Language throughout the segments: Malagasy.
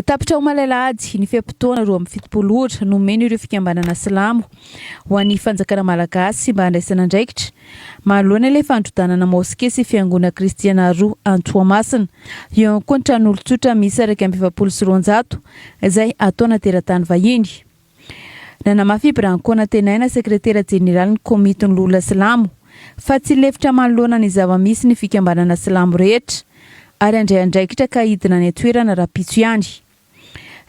Tapitra omaly alahady, ny fe-potoana roa amby fitopolo ora nomena ireo fikambanana silamo ho an'ny fanjakana malagasy mba handraisana andraikitra manoloana ilay fandrodanana moske sy fiangonana kristiana roa any Toamasina eo ankoatran'olon-tsotra miisa iraika amby efapolo sy roanjato izay ataona teratany vahiny. Nanamafy i Ibrahim Konatenaina, sekretera jeneralin'ny Komitin'ny Loholona Silamo, fa tsy lefitra manoloana ny zava-misy ny fikambanana silamo rehetra, ary handray andraikitra ka hidina any an-toerana rahampitso ihany.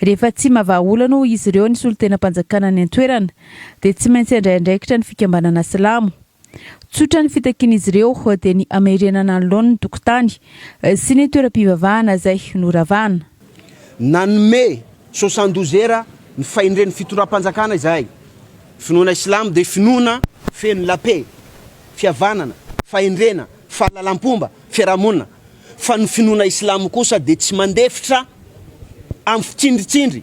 Rehefa tsy mba vahaolana hoy izy ireo ny solontenam-panjakana any an-toerana, dia tsy maintsy handray andraikitra ny fikambanana silamo. Tsotra ny fitakian'izy ireo dia ny hamerenana ny laoniny tokotany sy ny toeram-pivavahana izay noravana. Nanome soixante douze heures ny fahendren'ny fitondram-panjakana izahay. Finoana Islamo dia finoana feno la paix, fihavanana, fahendrena, fahalalam-pomba, fiarahamonina. Fa ny finoana Islamo kosa dia tsy mandefitra amin'ny fitsindritsindry.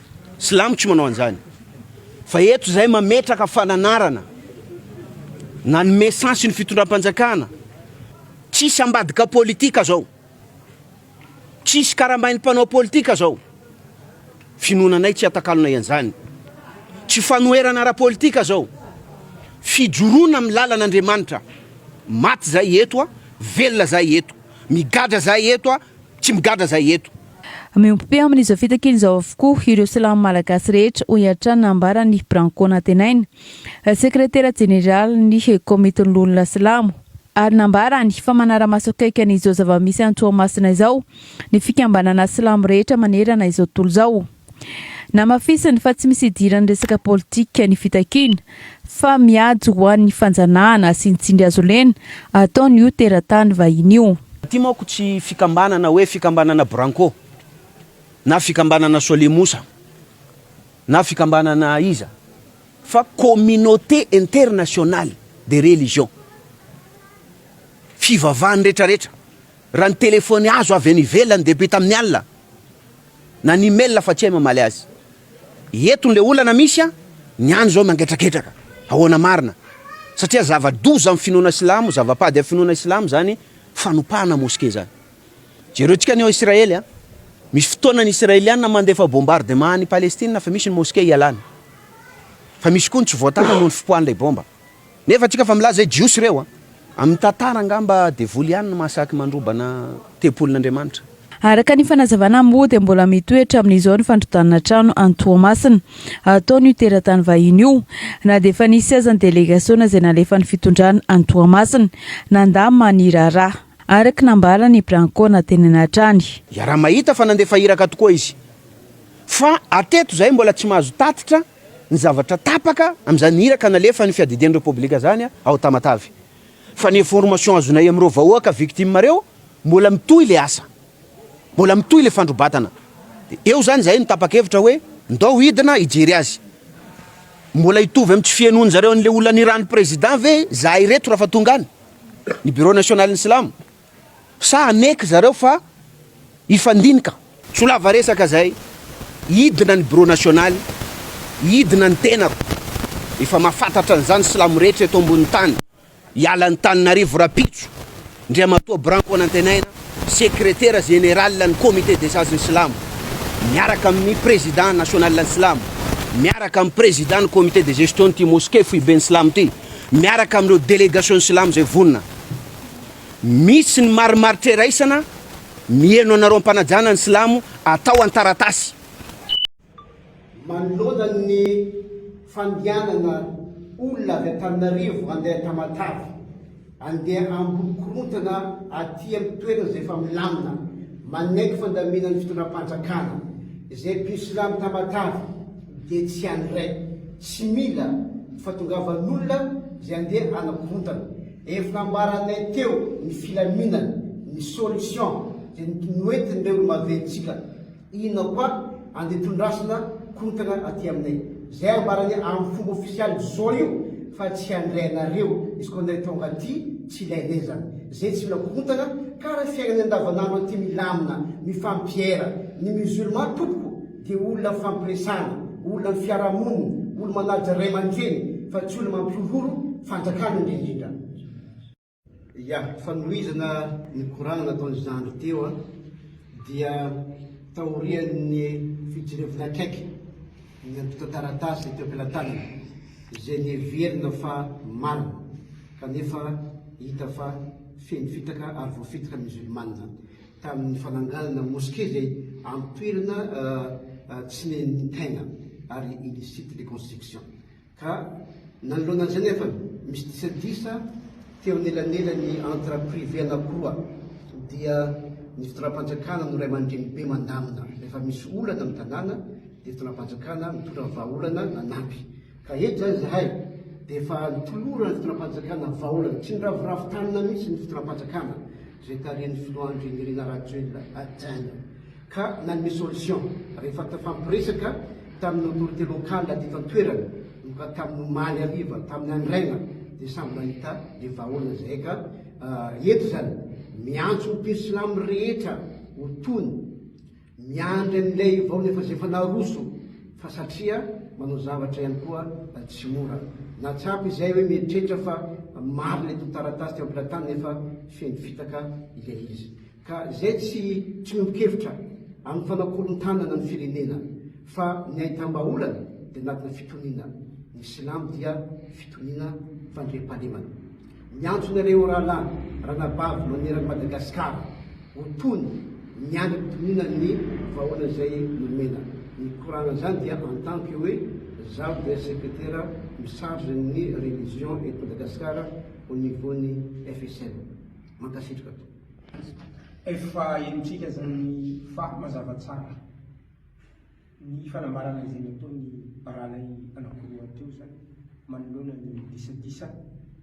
Silamo tsy manao an'izany. Fa eto izahay mametraka fananarana nanome sens ny fitondram-panjakana. Tsisy ambadika politika izao. Tsisy karambain'ny mpanao politika izao. Finoananay tsy atakalonay an'izany. Tsy fanoherana ara-politika izao. Fijoroana amin'ny lalan'Andriamanitra. Maty izahay eto, velona izahay eto. Migadra izahay eto, Tsy migadra zay eto. Miompy amin'izao fitakiny izao avokoa ireo Silamo Malagasy rehetra, hoy hatrany ny nambaran'ny Branco Nantenaina, Sekretera Jeneralin'ny Komitin'ny Loholona Silamo, ary nambarany fa manara-maso akaiky an'izao zava-misy any Toamasina izao ny fikambanana Silamo rehetra manerana izao tontolo izao. Namafisiny fa tsy misy idiran'ny resaka politika ny fitakiana fa miady ho an'ny fanjanahana sy ny tsindrihazolena ataon'io teratany vahiny io. Ity manko tsy fikambanana hoe fikambanana Branco na fikambanana Solemosa na fikambanana iza fa communauté internationale des religions, fivavahan'ny retraretra. Raha ny telefony azo avy any ivelany dia be tamin'ny alina na ny email fa tsy hay mamaly azy. Eto ilay olana misy an, ny any izao mangetraketraka. Ahoana marina? Satria zava-doza amin'ny finoana silamo, zava-pady amin'ny finoana silamo izany fanopahana moske izany. Jereo tsika ny ao Israely an, misy fotoana ny Israeliana mandefa bombardement any Palestina fa misy ny moske ialana. Fa misy koa ny tsy voatana noho ny fipoahan'ilay bomba. Nefa tsika fa milaza hoe jiosy ireo a! Amin'ny tantara angamba devoly ihany no mahasaky mandrobana tempolin'Andriamanitra. Araka ny fanazavana moa dia mbola mitoetra amin'izao ny fandrodanana trano any Toamasina ataon'io teratany vahiny io na dia efa nisy aza ny delegasiona izay nalefan'ny fitondrana any Toamasina nandà mani raharaha araka ny nambaran'ny Branco natenenay hatrany. Iaraha-mahita fa nandefa iraka tokoa izy. Fa hatreto izahay mbola tsy mahazo tatitra ny zavatra tapaka amin'izany iraka nalefan'ny fiadidian'ny Repoblika izany ao Tamatave. Fa ny information azonay amin'ireo vahoaka victimes ireo, mbola mitohy ilay asa. Mbola mitohy ilay fandrobatana. Dia eo izany izahay no tapa-kevitra hoe ndao hidina hijery azy. Mbola hitovy amin'ny tsy fihenoan-dry zareo an'ilay olona niran'ny Président ve izahay ireto raha fa tonga any ny Bureau Nationalin'ny Silamo? Sa haneky zareo fa hifandinika? Solava resaka zay, hidina ny bureau national, hidina ny tenako, efa mafatatra an'izany silamo rehetra eto ambony tany, hiala an'i Taninarivo rapitso, Ndriamatoa Branko Anantenaina, secretaire général ny comité des sages ny silamo, miaraka amin'ny président national ny silamo, miaraka amin'ny président ny comité de gestion ity mosquée foiben'ny silamo ity, miaraka amin'ireo délégation ny silamo zay vonona. Misy ny marimaritra iraisana miheno anareo am-panajana ny silamo atao an-taratasy. Manoloana ny fandehanana olona avy Antananarivo handeha Tamatave, handeha hamboly korontana aty amin'ny toerana izay efa milamina, manaiky fandaminan'ny fitondram-panjakana, izay mpino silamo Tamatave dia tsy any iray, tsy mila fahatongavan'olona izay handeha hanakorontana. Efa nambaranay teo ny filaminana, ny solution dia noentin'ireo maventsika inona koa andeha tondrasina korontana aty aminay. Zay ambaranay amin'ny fomba ofisialy zao io fa tsy handray anareo izy koa ndray tonga aty tsy ilainay zany. Zay tsy mila korontana ka raha fiainana andavanandro aty milamina, mifampiera ny musulman tompoko. dia olona fampiresana, olona ny fiarahamonina, olo manaja ray aman-dreny fa tsy olo mampihorohoro fanjakana indrindrindra. Ya, fanohizana ny korana nataon'i zandry teo an, dia taorian'ny fijirevana akaiky ny antontan-taratasy teo am-pelatanana izay neverina fa marina kanefa hita fa feno fitaka ary voafitaka ny musulmana. tamin'ny fananganana mosquée izay amin'ny toerana tsy nen'ny tegna ary illicite le construction ka nanoloana an'izay nefa misy disadisa teo anelanelan'ny entre privé anakiroa dia ny fitondram-panjakana no ray aman-dreny be mandamina rehefa misy olana amin'ny tanàna dia fitondram-panjakana mitondra vahaolana nanampy ka eto izany zahay dia efa nitolorana ny fitondram-panjakana vahaolana tsy niraviravy tanana mihitsy ny fitondram-panjakana izay tarihin'ny filoha Andry Nirina Rajoelina hajaina ka nanome solution rehefa tafampiresaka tamin'ny autorité locale teto an-toerana no ka tamin'ny omaly hariva tamin'ny andro aina dia samy nahita ny vahaolana izay ka ah, eto izany miantso ny mpiry silamo rehetra ho tony Miandry an'ilay vao lefazefa naroso fa satria manao zavatra ihany koa tsy mora. Nahatsapa izahay hoe mieritreritra fa marina ilay tontan-taratasy teo am-pilatany nefa feno fitaka ilay izy. Ka izay tsy tsy miombon-kevitra amin'ny fanakorontanana ny firenena fa ny ahitam-bahaolana dia anatina fitoniana. Ny silamo dia fitoniana fandriampahalemana. Miantso anareo rahalahy ranabavy maneran'i Madagasikara ho tony ny andrim-pitononan'ny vahoana izay nomena. Ny korana izany dia en tant que hoe zaho dia sekretera mi-charge ny religion eto Madagasikara au niveau ny FSM. Mankasitraka tompoko. Efa henontsika zany fa mazava tsara. Ny fanambarana izay nataon'ny baralay anakiroa teo izany manoloana ny disadisa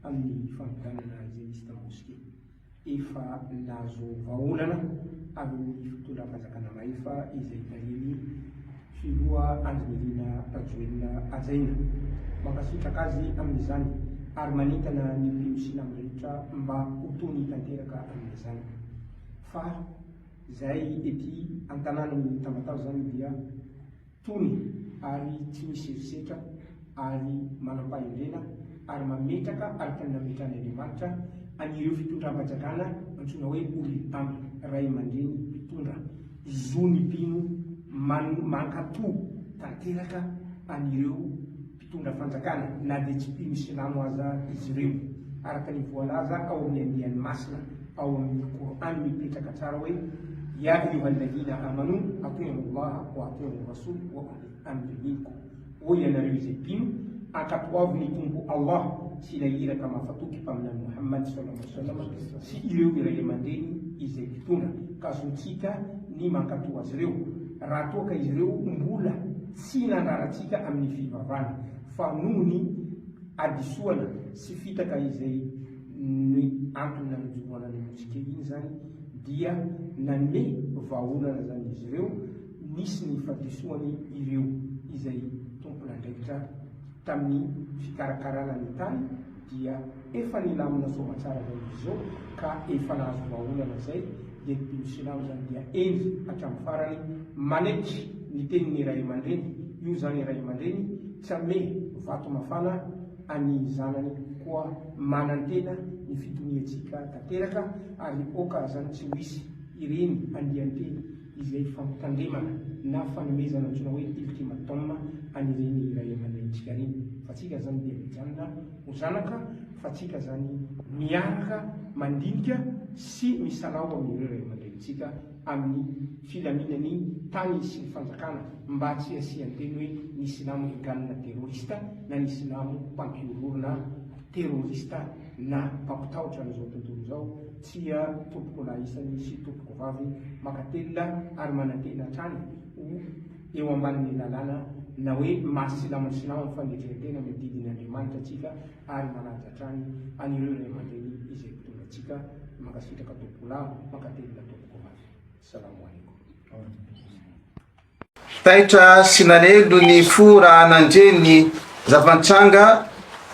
amin'ny fampidanana izay nisy tao Moske. Efa nahazo vahaolana avy amin'ny fitondram-panjakana Mahefa izay tarihin'ny filoha Andry Nirina Rajoelina hajaina. Mankasitraka azy amin'izany ary manentana ny mpino silamo rehetra mba ho tony tanteraka amin'izany fa. Izay ety an-tanànan'i Tamatave izany dia tony ary tsy misy herisetra ary manam-pahendrena ary mametraka araka ny nametran'i Andriamanitra an'ireo fitondram-panjakana antsoina hoe Oriltam, ray aman-dreny mpitondra, zo ny mpino mankatò tanteraka an'ireo. mpitondra fanjakana na dia tsy mpino silamo aza izy ireo. Araka ny voalaza ao amin'ny andiany masina ao amin'ny Qur'an mipetraka tsara hoe, Ya ayyuhalladhina amanu ati'u Allaha wa ati'u Rasul wa ulil amri minkum, Ô ianareo izay mpino, ankatoavo ny Tompo Allah sy ilay Iraka Mahafatoky Mpaminany Mohamady saw sy ireo iray aman-dreny izay mpitondra, ka zontsika ny mankatò azy ireo raha toa ka izy ireo mbola Tsy hinandrarantsika amin'ny fivavana, fa noho ny hadisoana sy fitaka izay ny antony nanojoroana ny mosquée iny izany dia nanome vahaolana izany izy ireo, nisy ny fadisoany ireo izay tompon'andraikitra tamin'ny fikarakarana ny tany dia efa nilamina soamatsara izany izy izao ka efa nahazo vahaolana izay, dia ny teny silamo izany dia eny hatramin'ny farany manetry ny tenin'ny ray aman-dreny, io izany ray aman-dreny tsy hanome vato mafana an'ny zanany koa manantena ny fitoniantsika tanteraka ary oka izany tsy ho hisy ireny andian-teny izay fampitandremana na fanomezana antsoina hoe ultimatum an'ireny ray aman-drenintsika ireny fa tsika izany dia mijanona Ho zanaka fatsika zany miaraka mandinika sy misalaho amin'ireo ray aman-drenintsika amin'ny filaminan'ny tany sy ny fanjakana mba tsy hasian-teny hoe ny silamo egalina terorista na ny silamo mpampiororona terorista na mpampitahotra an'izao tontolo izao tsia tompokolahy isany sy tompokovavy makatelina ary manantena hatrany ho eo ambanin'ny lalàna na hoe maha silamo silamo fanetren-tena ny didin' Andriamanitra antsika ary manaja hatrany an'ireo ray aman-dreny izay mpitondra antsika mankasitraka tompoko lava mankatelina tompoko mafy salamo alaikum. Taitra sy nalelo ny fo raha nandre ny zava-nitranga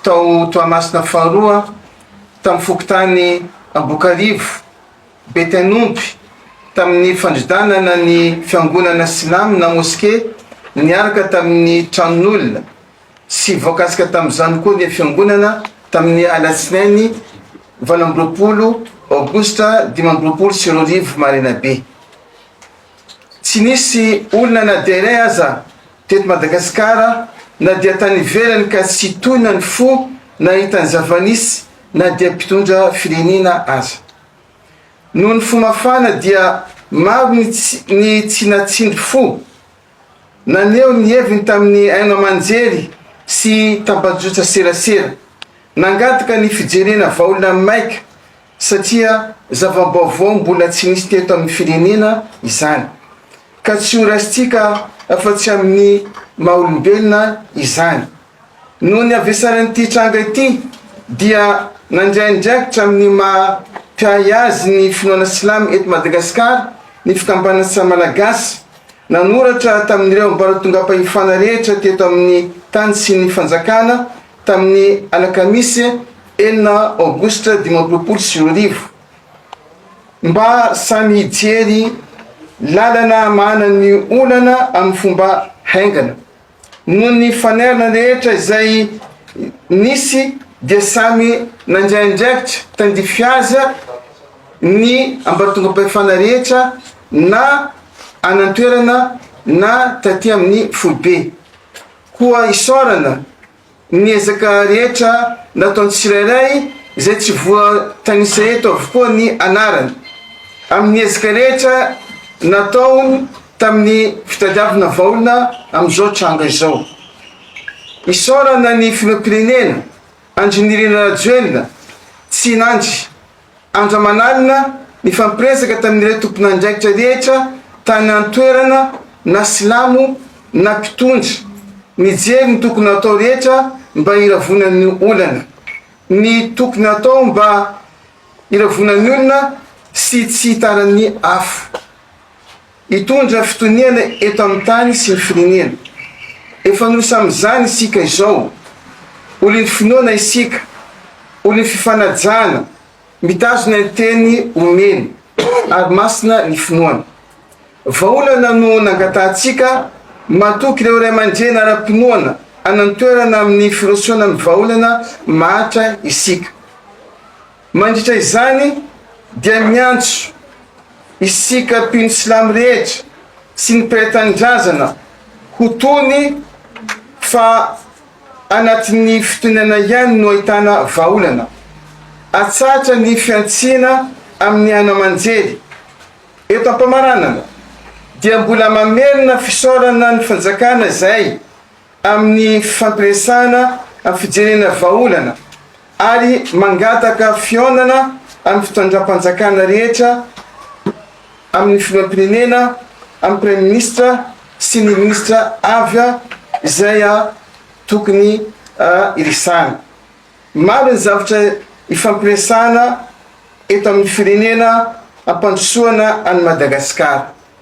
tao Toamasina faharoa, tamin'ny fokontany Ambokarivo. Betenomby, tamin'ny fandridanana ny fiangonana silamo na moske niaraka tamin'ny tranon'olona sy voakasika tamin'izany koa ny fiangonana tamin'ny alatsinainy valo amby roapolo aogositra dimy amby roapolo sy roa arivo maraina be. Tsy nisy olona na dia iray aza teto Madagasikara na dia tany ivelany ka tsy tohina ny fo nahita ny zava-nisy na dia mpitondra firenena aza. Noho ny fo mafana dia maro ny ny tsy natsindry fo naneho ny heviny tamin'ny haino aman-jery sy tambajotra-serasera. Nangataka ny fijerena vaolina maika satria zava-baovao mbola tsy nisy teto amin'ny firenena izany ka tsy horaisintsika afa-tsy amin'ny maha-olombelona izany. Noho ny havesaran'ity tranga ity dia nandray andraikitra amin'ny maha mpiahy azy ny finoana silamo eto Madagasikara ny fikambanana samy Malagasy, nanoratra tamin'ireo ambaratongam-pahefana rehetra teto amin'ny tany sy ny fanjakana tamin'ny alakamisy enina aogositra dimy amby roapolo sy roa arivo mba samy hijery lalana hamahana ny olana amin'ny fomba haingana. Noho ny fanerana rehetra izay nisy dia samy nandray andraikitra tandrify aza ny ambatongam-pahefana rehetra na any an-toerana na taty amin'ny foibe. Koa isaorana. Ny ezaka rehetra nataon'ny tsirairay izay tsy voatanisa eto avokoa ny anarany, amin'ny ezaka rehetra nataony tamin'ny fitadiavana vaolina amin'izao tranga izao. Isaorana ny Filoham-pirenena Andry Nirina Rajoelina Tsinandry. Andro aman'alina, nifampiresaka tamin'ireo tompon'andraikitra rehetra tany an-toerana na silamo na mpitondra, nijery ny tokony hatao rehetra mba hiravona ny olana, ny tokony hatao mba hiravona ny olona sy tsy hitaran'ny afo. Hitondra fitoniana eto amin'ny tany sy ny firenena. Efa nosy amin'izany isika izao. Olon'ny finoana isika, olon'ny fifanajana, mitazona ny teny omeny, ary masina ny finoana. Vahaolana no nangatahantsika, matoky ireo ray aman-dreny ara-pinoana hanantoerana amin'ny firosoana amin'ny vahaolana mahantra isika. Mandritra izany dia miantso isika mpino silamo rehetra sy ny mpiray tanindrazana ho tony fa anatin'ny fitoniana ihany no ahitana vahaolana. Atsahatra ny fihantsiana amin'ny haino aman-jery. Eto am-pamaranana dia mbola mamerina fisaorana ny fanjakana izay. amin'ny fifampiresahana amin'ny fijerena vahaolana ary mangataka fihaonana amin'ny fitondram-panjakana rehetra amin'ny filoham-pirenena, amin'ny praiminisitra sy ny minisitra avy izay tokony iresahana. Maro ny zavatra ifampiresahana eto amin'ny firenena hampandrosoana an'i Madagasikara.